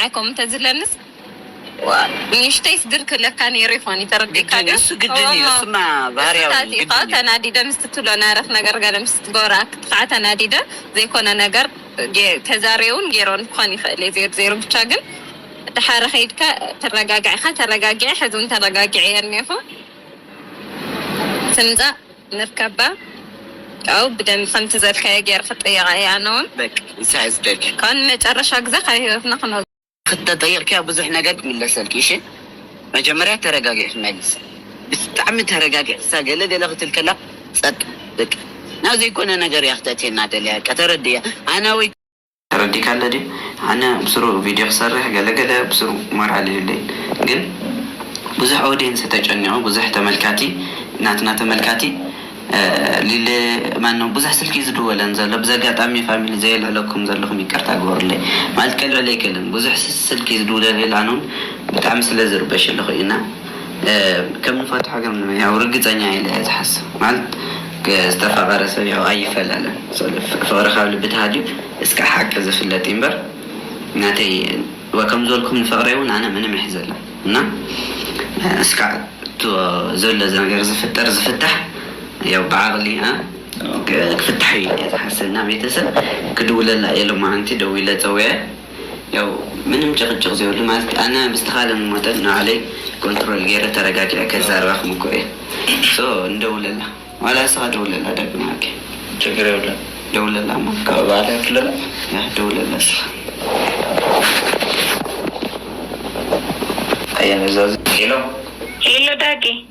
ኣይ ከምኡ እንተዝለንስ ንእሽተይስ ግር ክብለካ ነይሩ ይኾን እዩ፣ ተረዲእካ ድዩ? እሱ ግድን እዩ፣ እሱማ ባህርያዊ እዩ፣ እሱታት ኢኻ ግድን እዩ። ተናዲደ ምስ ትብሎ ናርኽ ነገር ገለ ምስ ትገብራ ክዓ ተናዲደ ዘይኮነ ነገር ገይ ተዛርየውን ገይረውን ክኾን ይኽእል እዩ ዜሮ ዜሮ ብቻ ግን ድሓረ ከይድካ ትረጋጋዕ ኢኻ ተረጋጊዐ ሕዚ ውን ተረጋጊዐ እየ እኔኹ ትምፃእ ንርከባ ካብኡ ብደንቢ ከምቲ ዘልካዮ ጌረ ክጥይቃ እየ ኣነ ውን በቃ ኢሳያስ ደልዩ ካብኡ ንመጨረሻ ግዘ ካብ ሂወትና ክነውጽኦ። ክተጠይቅክያ ብዙሕ ነገር ክምለሰልኪ እሺ መጀመርያ ተረጋጊዕኪ መልሲ ብጣዕሚ ተረጋጊዕክሳ ገለ ገለ ክትብል ከላ ጸጥ በቃ ናብ ዘይኮነ ነገር እያ ክተእትየና ደልያ በቃ ተረድእያ ኣና ወይ ተረዲካ ኣሎ ድዩ ኣነ ብስሩ ቪድዮ ክሰርሕ ገለ ገለ ብስሩ ሞራል ይህሉይ ግን ብዙሕ ኦዴንስ ተጨኒቁ ብዙሕ ተመልካቲ ናትና ተመልካቲ ሊሊ ማነው ብዙሕ ስልኪ እዩ ዝድወለን ዘሎ ብዚ ኣጋጣሚ ፋሚሊ ዘየልዕለኩም ዘለኩም ይቅርታ ግበሩለይ ማለት ከልዕል ኣይክእልን ብዙሕ ስልኪ ዝድውለለይ ኣነውን ብጣዕሚ ስለ ዝርበሽ ኣለኩ እና ከም ንፈትሖ ግን ያው ርግጸኛ ኢለ እየ ዝሓስብ ማለት ዝተፋቀረ ሰብ ያው ኣይፈላለን ፍቅሪ ካብ ልቢ ተሃልዩ እስከ ሓቂ ዝፍለጥ ይንበር ናተይ ከም ዝበልኩም ንፍቅረይ ውን ኣነ ምንም ኣይሕዘላን እና እስካዕ እቶ ዘሎ ነገር ዝፍጠር ዝፍታሕ ያው ብዓቅሊ እ ክፍታሕ እዩ ኢለ እየ ዝሓስብ እና ቤተሰብ ክድውለላ ኢሎም ኣንቲ ደዊለ ጸዊዐ ያው ምንም ጭቅጭቅ ዘይብሉ ማለት ኣነ ብዝተካለኒ መጠን ንባዕለይ ኮንትሮል ገይረ ተረጋጊዐ ከዛርባ ክምኩር እየ so ንደውለላ ዋላ ንስካ ደውለላ ደርቢ ንዓኪ ችግር የብሉን ደውለላ እሞ ካብኡ ባዕላ ክለላ ያህ ደውለላ ንስካ። ኣያ ነዛ ሄሎ ሄሎ ዳጊ።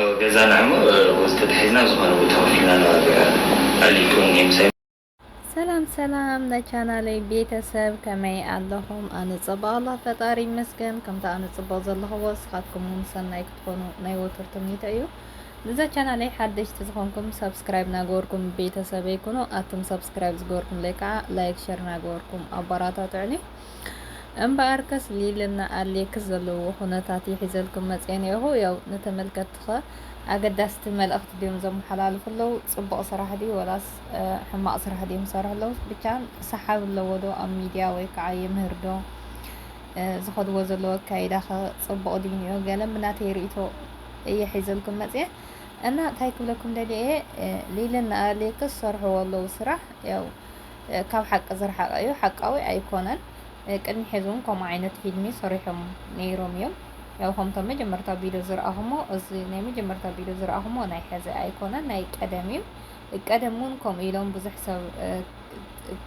ኣብ ገዛና እሞ ወዝ ተታሒዝና ኣብ ዝኾነ ቦታ ኮፍልና ነባብዕ ኣልይክውን እየ ምሳይ ሰላም ሰላም ናይ ቻናለይ ቤተሰብ ከመይ ኣለኹም? ኣነ ፀባቕ ኣላ ፈጣሪ ይመስገን። ከምታ ኣነ ፅቡቕ ዘለኹዎ ንስኻትኩም እውን ሰናይ ክትኾኑ ናይ ወትር ትምኒተ እዩ። ንዛ ቻናለይ ሓደሽቲ ዝኾንኩም ሰብስክራይብ ናገበርኩም ቤተሰበይ ኩኑ። ኣቱም ሰብስክራይብ ዝገበርኩምለይ ከዓ ላይክ ሸር ናገበርኩም ኣባራታትዑኒ። እምበኣርከስ ሊልና ኣሌክስ ዘለውዎ ኩነታት እየ ሒዘልኩም መጽየ ኔርኩ ያው ንተመልከትቲኸ ኣገዳስቲ መልእኽቲ ድዮም ዘመሓላልፉ ኣለው ጽቡቕ ስራሕ ድዩ ወላስ ሕማቕ ስራሕ ድዮም ዝሰርሑ ኣለውስ ብቻ ሰሓብ ኣለዎ ዶ ኣብ ሚድያ ወይ ከዓ የምህር ዶ ዝኸድዎ ዘለዎ ኣካይዳ ኸ ጽቡቕ ድዩ ኒኦ ገለ ምናተይ ርእቶ እየ ሒዘልኩም መጽየ እና እንታይ ክብለኩም ደልየ እየ ሊልና ኣሌክስ ሰርሕዎ ኣለው ስራሕ ያው ካብ ሓቂ ዝረሓቀ እዩ ሓቃዊ ኣይኮነን ቅድሚ ሐዚ እውን ከምኡ ዓይነት ፊልሚ ሰሪሖም ነይሮም እዮም ያው ከምቶም መጀመርታ ቪድዮ ዝረኣኹሞ እዚ ናይ መጀመርታ ቪድዮ ዝረኣኹሞ ናይ ሐዚ ኣይኮነን ናይ ቀደም እዩ ቀደም እውን ከምኡ ኢሎም ብዙሕ ሰብ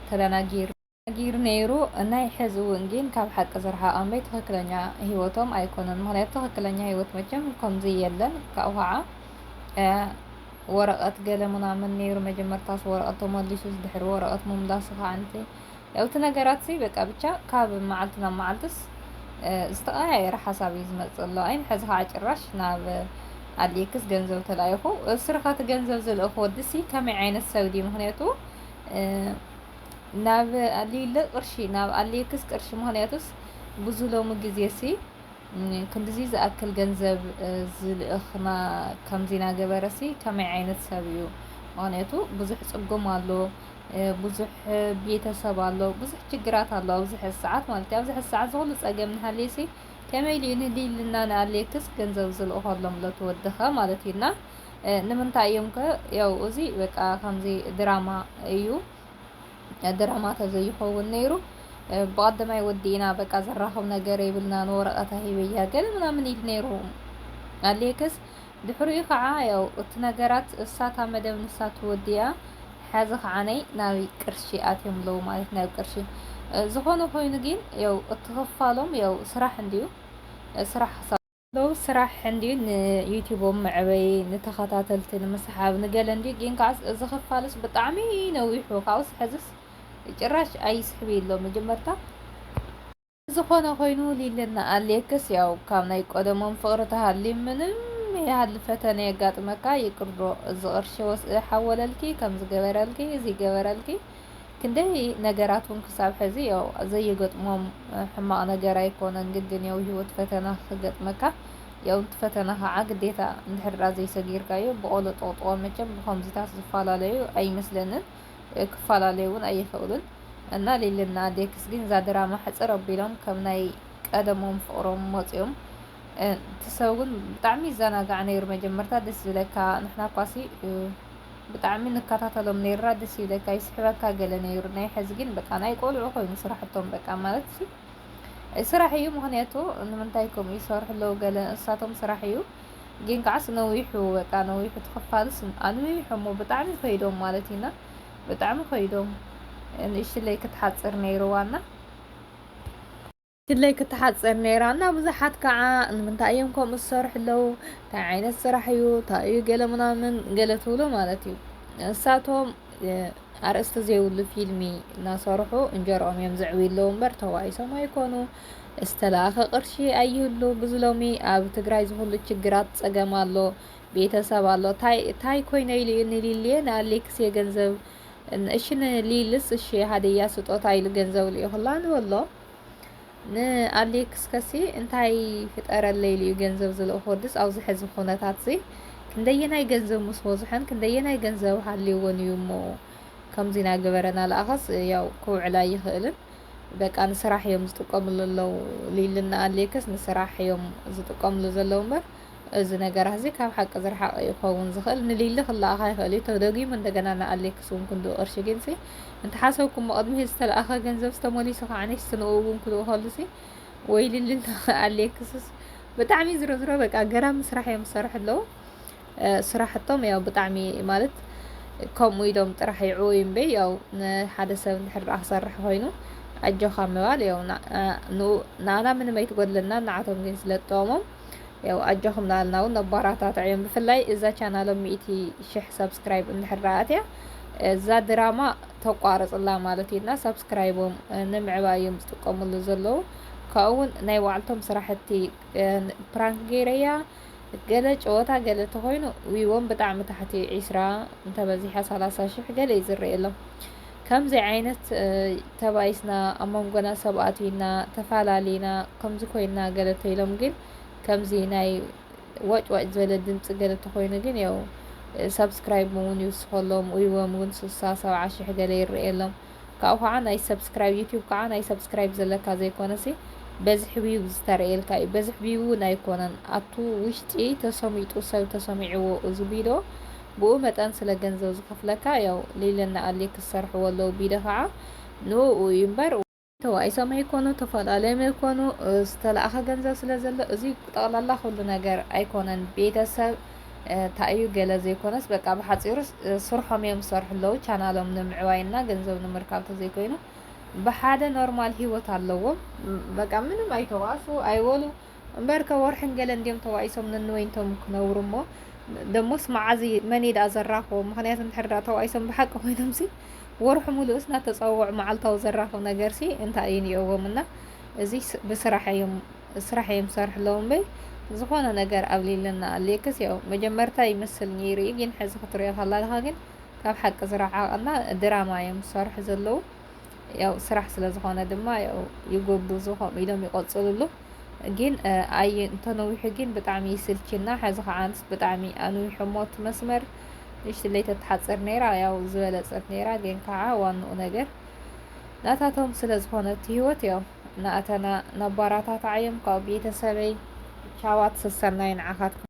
ተደናጊሩ ጊር ነይሩ ናይ ሐዚ እውን ግን ካብ ሓቂ ዝረሓቐ እምበይ ትኽክለኛ ሂወቶም ኣይኮነን ምክንያቱ ትኽክለኛ ሂወት መቸም ከምዚ የለን ካብኡ ከዓ ወረቀት ገለ ምናምን ነይሩ መጀመርታስ ወረቀት ተመሊሱስ ድሕሪ ወረቀት ምምላሱ ከዓ ንቲ ያው እቲ ነገራትሲ በቃ ብቻ ካብ መዓልቲ ናብ መዓልትስ ዝተቀያየረ ሓሳብ እዩ ዝመፅእ ኣሎ ኣይን ሕዚ ከዓ ጭራሽ ናብ ኣድልየክስ ገንዘብ ተላኢኹ እስርኻ እቲ ገንዘብ ዝልእኽ ወዲሲ ከመይ ዓይነት ሰብ ድዩ ምክንያቱ ናብ ኣልዩለ ቅርሺ ናብ ኣልየክስ ቅርሺ ምክንያቱስ ብዙ ሎሚ ግዜሲ ክንድዚ ዝኣክል ገንዘብ ዝልእኽ ከምዚ ናገበረሲ ከመይ ዓይነት ሰብ እዩ ምክንያቱ ብዙሕ ፅጉም ኣሎ ብዙሕ ቤተሰብ ኣሎ ብዙሕ ችግራት ኣሎ ኣብዚ ሕዚ ሰዓት ማለት እዩ ኣብዚ ሕዚ ሰዓት ዝኩሉ ፀገም ንሃልየሲ ከመይ ኢሉ ንልልና ንኣልየክስ ገንዘብ ዝልእኸሎም ለትወድኸ ማለት እዩና ንምንታይ እዮም ከ ያው እዚ በቃ ከምዚ ድራማ እዩ ድራማ ተዘይኸውን ነይሩ ብቀደማይ ወዲእና በቃ ዘራኽብ ነገር የብልናን ወረቐታ ሂበያ ገለ ምናምን ኢል ነይሩ ኣሌክስ ድሕሪኡ ከዓ ያው እቲ ነገራት እሳታ መደብ ንሳት ወዲያ ሓዚ ከዓ ነይ ናብ ቅርሺ ኣትዮም ኣለዉ ማለት ናብ ቅርሺ ዝኾነ ኮይኑ ግን ያው እቲ ክፋሎም ያው ስራሕ እንድዩ ስራሕ ሎው ስራሕ እንድዩ ንዩቲቦም መዕበይ ንተኸታተልቲ ንምስሓብ ንገለ እንድዩ ግን ከዓስ እዚ ክፋልስ ብጣዕሚ ነዊሑ ካብኡስ ሕዝስ ጭራሽ ኣይስሕብ ኣሎ መጀመርታ ዝኾነ ኮይኑ ሊልና ኣሌክስ ያው ካብ ናይ ቆደሞም ፍቅሪ ተሃሊ ምንም ያህል ፈተነ የጋጥመካ ይቅር ዶ እዚ ቅርሺ ወስኢ ሓወለልኪ ከምዚ ገበረልኪ እዚ ገበረልኪ ክንደይ ነገራት እውን ክሳብ ሕዚ ያው ዘይገጥሞም ሕማቕ ነገር ኣይኮነን። ግን ግን ያው ህይወት ፈተና ክገጥመካ ያው እቲ ፈተና ከዓ ግዴታ እንድሕራ ዘይሰጊርካዮ ብቆሎ ጠቕጥቆ መቸም ብከምዚታት ዝፈላለዩ ኣይመስለንን ክፈላለዩ እውን ኣይኽእሉን እና ሊልና ዴክስ ግን እዛ ድራማ ሕፅር ኣቢሎም ከም ናይ ቀደሞም ፍቕሮም መፅኦም እቲ ሰብ ግን ብጣዕሚ ይዘናጋዕ ነይሩ መጀመርታ ደስ ዝብለካ ንሕና እኳሲ ብጣዕሚ ንከታተሎም ነይርና ደስ ይብለካ ይስሕበካ ገለ ነይሩ ናይ ሕዚ ግን በቃ ናይ ቆልዑ ኮይኑ ስራሕቶም በቃ ማለት ሲ ስራሕ እዩ ምክንያቱ ንምንታይ ከምኡ ይሰርሑ ኣለዉ ገለ እንስሳቶም ስራሕ እዩ ግን ከዓስ ነዊሑ በቃ ነዊሑ ትክፋልስ ኣንዊሖሞ ብጣዕሚ ከይዶም ማለት እዩና ብጣዕሚ ከይዶም ንእሽለይ ክትሓፅር ነይርዋና ድለይ ክትሓጽር ነይራ እና ብዙሓት ከዓ ንምንታይ እዮም ከምኡ ዝሰርሑ ኣለዉ እንታይ ዓይነት ስራሕ እዩ እንታይ እዩ ገለ ምናምን ገለ ትብሎ ማለት እዩ ንሳቶም ኣርእስቲ ዘይብሉ ፊልሚ እናሰርሑ እንጀርኦም እዮም ዘዕብዩ ኣለዉ እምበር ተዋኢሶም ኣይኮኑ ዝተላእኸ ቅርሺ ኣይህሉ ብዙ ሎሚ ኣብ ትግራይ ዝኹሉ ችግራት ፀገም ኣሎ ቤተሰብ ኣሎ ታይ ኮይነ ኢሉ እዩ ንሊልየ ንኣሌክስ የገንዘብ እሺ ንሊልስ እሺ ሃደያ ስጦታ ኢሉ ገንዘብ ልኢኹላ ንበሎ ንኣሌክስ ከሲ እንታይ ፍጠረለይ ኢሉ እዩ ገንዘብ ዝልእኾ ድስ ኣብዚ ሕዚ ኩነታት እዚ ክንደየናይ ገንዘብ ምስ ወዝሖን ክንደየናይ ገንዘብ ሃልይዎን እዩ እሞ ከምዚ ናገበረና ለኣኸስ ያው ክውዕል ኣይኽእልን በቃ ንስራሕ እዮም ዝጥቀምሉ ኣለዉ ሊልና ኣሌክስ ንስራሕ እዮም ዝጥቀምሉ ዘለዉ እምበር እዚ ነገራትዚ ካብ ሓቂ ዝረሓቐ እዩ ክኸውን ዝኽእል። ንሊሊ ክለኣኻ ይኽእል እዩ፣ ተደጊሙ እንደገና ንኣሌክስ እውን ክንድኡ ቅርሺ ጊንሲ እንተሓሰብኩሞ ቅድሚ'ዚ ዝተለኣኸ ገንዘብስ ተመሊሱ ከዓኒስሲ ንኡ እውን ክልእኸሉሲ ወይ ሊሊ ንኣሌክስስ ብጣዕሚ ዝሮዝሮ በቃ ገራሚ ስራሕ እዮም ዝሰርሑ ኣለዉ። ስራሕቶም ያው ብጣዕሚ ማለት ከምኡ ኢሎም ጥራሕ ይዕወዩ እምበይ ያው ንሓደ ሰብ እንድሕር ደኣ ክሰርሕ ኮይኑ ኣጆኻ ምባል ያው ንኡ ንኣና ምንም ኣይትጎድለና ንዓቶም ግን ስለ ትጠቕሞም ያው ኣጆኹም ናልና እውን ኣባራታትዕዮም ብፍላይ እዛ ቻናሎም ሚእቲ ሽሕ ሰብስክራይብ እንድሕር ኣትያ እዛ ድራማ ተቋርፅላ ማለት እዩና ሰብስክራይቦም ንምዕባይ እዮም ዝጥቀምሉ ዘለዉ ካብኡ እውን ናይ ባዕልቶም ስራሕቲ ፕራንክ ገይረያ ገለ ጨወታ ገለ ተኮይኑ ዊዎም ብጣዕሚ ታሕቲ ዒስራ እንተበዚሓ ሰላሳ ሽሕ ገለ እዩ ዝረየሎም ከምዚ ዓይነት ተባኢስና ኣብ መንጎና ሰብ ኣትዩና ተፋላሊና ከምዚ ኮይና ገለ ተይሎም ግን ከምዚ ናይ ዋጭ ዋጭ ዝበለ ድምፂ ገለ ተኮይኑ ግን ያው ሰብስክራይብ እውን ይውስኸሎም ኡይዎም እውን ስሳ ሰብዓ ሽሕ ገለ ይረኤሎም ካብኡ ከዓ ናይ ሰብስክራይብ ዩቲዩብ ከዓ ናይ ሰብስክራይብ ዘለካ ዘይኮነሲ በዝሒ ቪው ዝተረኤልካ እዩ በዝሒ ቪው እውን ኣይኮነን ኣቱ ውሽጢ ተሰሚጡ ሰብ ተሰሚዕዎ እዚ ቪድዮ ብኡ መጠን ስለ ገንዘብ ዝከፍለካ ያው ሊሊ እና ኣሊ ክሰርሕዎ ኣለው ቢደ ካዓ ንኡኡ እዩ እምበር ተባኢሶም ኣይኮኑ ተፈላልዮም ኣይኮኑ ዝተላኣከ ገንዘብ ስለ ዘሎ እዚ ጠቅላላ ኩሉ ነገር ኣይኮነን ቤተ ሰብ ታይ እዩ ገለ ዘይኮነስ በቃ ብሓፂሩ ስርሖም እዮም ዝሰርሑ ኣለው ቻናሎም ንምዕባይ እና ገንዘብ ንምርካብ ተዘይኮይኑ ብሓደ ኖርማል ሂወት ኣለዎም በቃ ምንም ኣይተባእሱ ኣይወሉ እምበርከ ወርሕን ገለን ድዮም ተዋኢሶም ነንወይንቶም ክነብሩ እሞ ደሞስ መዓዝ መን ደኣ ዘራኽቦ ምክንያቱ እንድሕር ደኣ ተዋኢሶም ብሓቂ ኮይኖምሲ ወርሑ ሙሉእስ እናተፀወዑ መዓልታዊ ዘራኽብ ነገርሲ እንታይ እዩ ኒኦዎም እና እዚ ብስራሕ እዮም ስራሕ እዮም ዝሰርሑ ኣለዉ እምበይ ዝኾነ ነገር ኣብሊለና ኣልየክስ ያው መጀመርታ ይመስል ነይሩ እዩ ግን ሕዚ ክትሪኦ ከላልኻ ግን ካብ ሓቂ ዝረዓቐና ድራማ እዮም ዝሰርሑ ዘለዉ ያው ስራሕ ስለ ዝኾነ ድማ ያው ይጎብዙ ከምኡ ኢሎም ይቐፅልሉ ግን ኣይ እንተነዊሑ ግን ብጣዕሚ ይስልችና ሕዚ ከዓ ኣንስ ብጣዕሚ ኣንዊሖሞ እቲ መስመር ንእሽትለይ ተትሓፅር ነይራ ያው ዝበለፀት ነይራ ግን ከዓ ዋንኡ ነገር ናታቶም ስለ ዝኾነት ህይወት ያው ናእተና ነባራታትዓዮም ካብ ቤተሰበይ ቻዋት ሰሰናይ ንዓኻትኩም